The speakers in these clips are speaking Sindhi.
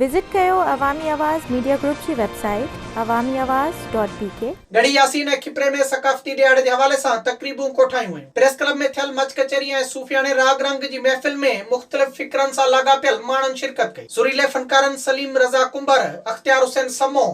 وزٽ ڪيو عوامي آواز ميڊيا گروپ جي website Awami Awaz dot B K. Garhi Yasin ۽ Khipro ۾ ثقافتي ڏهاڙي جي حوالي سان تقريبون ڪوٺايون ويون. پريس ڪلب ۾ ٿيل مچ ڪچهري ۽ صوفياڻي راڳ رنگ جي محفل ۾ مختلف فڪرن سان لاڳاپيل ماڻهن شرڪت ڪئي. سريلي فنڪارن سليم رضا ڪنڀر، اختيار حسين سمون،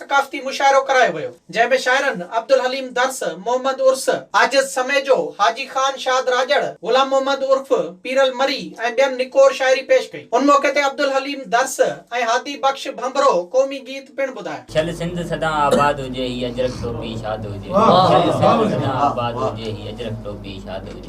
ثقافتي مشاعرو ڪرايو ويو، جنهن ۾ شاعرن عبدالحليم درس، محمد عرس، عاجز سميجو، حاجي خان شاد راڄڙ، غلام محمد عرف پيرل مري ۽ ٻين نڪور شاعري پيش ڪئي. ان موقعي تي عبدالحليم درس ۽ هادي بخش ڀنڀرو قومي گيت پڻ ٻڌايا. ڇل سنڌ سدان آباد هجي هي اجرڪ ٽوپي شاد هجي. ڇل سنڌ سدان آباد هجي هي اجرڪ ٽوپي شاد هجي.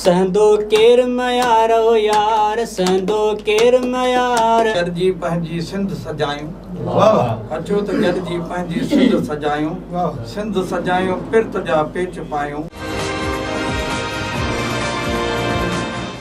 سهندو ڪير ميار او يار، سهندو ڪير ميار. گڏجي پنهنجي سنڌ سجايون. اچو ته گڏجي پنهنجي سنڌ سجايون. سنڌ سجايون پرت جا پيچ پايون.